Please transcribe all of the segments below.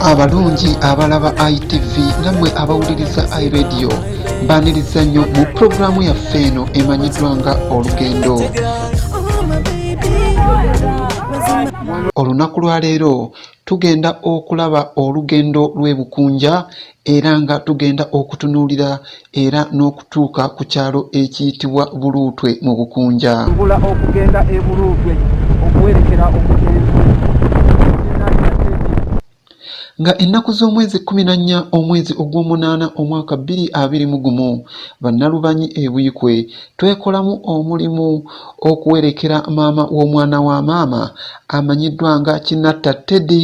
abalungi abalaba itv namwe abawuliriza iradio baniriza nnyo mu pulogulaamu yaffe eno emanyiddwa nga olugendo olunaku lwa leero tugenda okulaba olugendo lw'ebukunja era nga tugenda okutunuulira era n'okutuuka ku kyalo ekiyitibwa Buluutwe mu Bukunja. Tubula okugenda e Buluutwe okuwerekera omugenzi nga ennaku z'omwezi kkumi na nnya omwezi ogw'omunaana omwaka bbiri abiri mu gumu bannalubanyi e Buikwe twekolamu omulimu okuwerekera maama w'omwana wa maama amanyiddwa nga Kinatta Teddy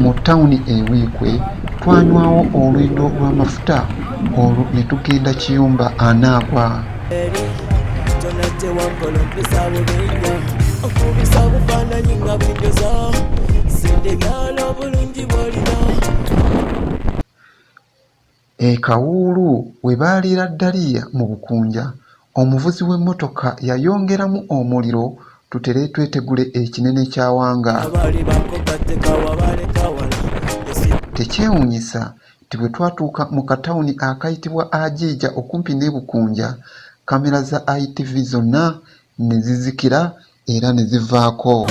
Mu ttawuni e Buikwe twanywawo olwindo lw'amafuta olwo ne tugenda Kiyumba Anaagwa. Okubisa obufaananyi nga bwinjoza sente byalo obulungi bw'olina E Kawuulu we baaliira ddaliya mu Bukunja, omuvuzi w'emmotoka yayongeramu omuliro tutere twetegule ekinene ky'awanga. Tekyewuunyisa nti bwe twatuuka mu katawuni akayitibwa Ajiija okumpi n'e Bukunja, kkamera za ITV zonna ne zizikira era ne zivaako.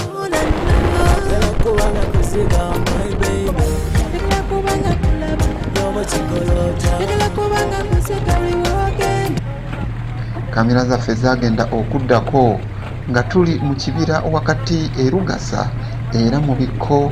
Kamera zaffe zaagenda okuddako nga tuli mu kibira wakati e Lugasa era mu bikko.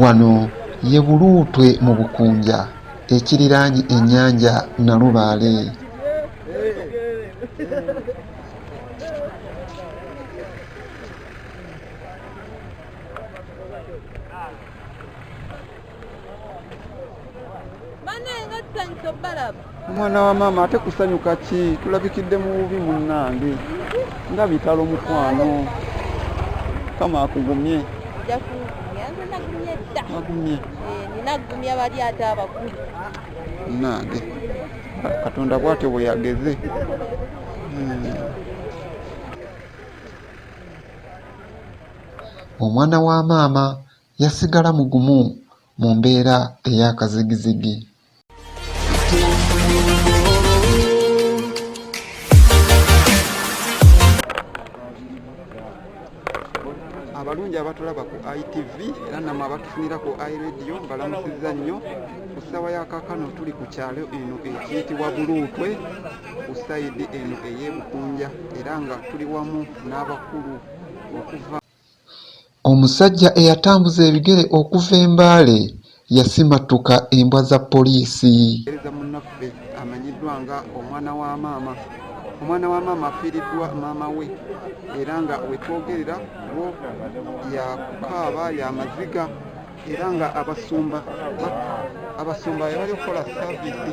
Wano ye Buluutwe mu Bukunja ekiriraanye ennyanja Nalubaale. omwana wa maama ate kusanyuka ki tulabikidde mu bubi munnange nga bitalo mukwano kama akugumye agumye nagumya bali ate abakulu nange katonda bwatyo bwe yageze hmm. omwana wa maama yasigala mugumu mu mbeera ey'akazigizigi. abalungi abatulaba ku itv era namwe abatufunira ku iradio mbalamusiza nnyo ku ssaawa ya kakano tuli ku kyalo eno ekiyitibwa buluutwe ku sayidi eno ey'ebukunja era nga tuli wamu n'abakulu okuva Omusajja eyatambuza ebigere okuva e Mbale yasimattuka embwa za poliisi. Muweereza munnaffe amanyiddwa nga Omwana wa Maama. Omwana wa Maama afiiriddwa Maama we era nga wetwogerera wo yakukaaba ya maziga era nga abasumba abasumba bebali okukola saavisi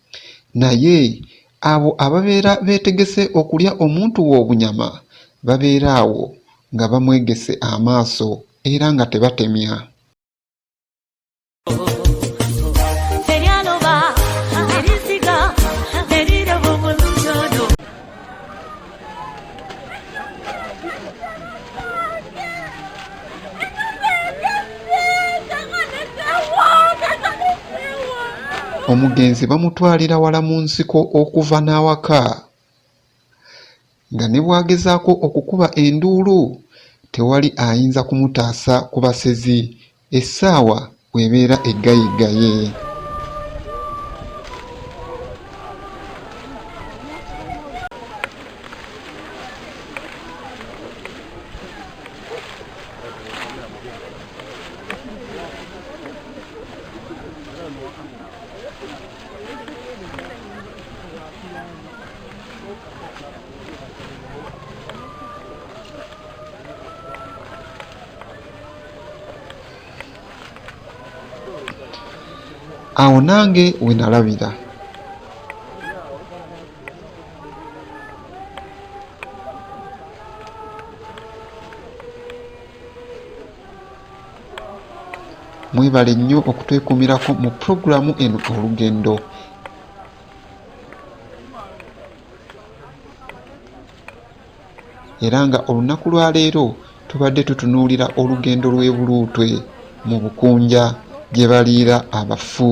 Naye abo ababeera beetegese okulya omuntu we obunyama babeera awo nga bamwegese amaaso era nga tebatemya. omugenzi bamutwalira wala mu nsiko okuva n'awaka nga ne bw'agezaako okukuba enduulu tewali ayinza kumutaasa ku basezi Essaawa bw'ebeera eggayiggaye. awo nange wenalabira mwebale nnyo okutwekumirako mu pulogulaamu eno olugendo era nga olunaku lwa leero tubadde tutunuulira olugendo lw'e Buluutwe mu Bukunja gye baliira abafu.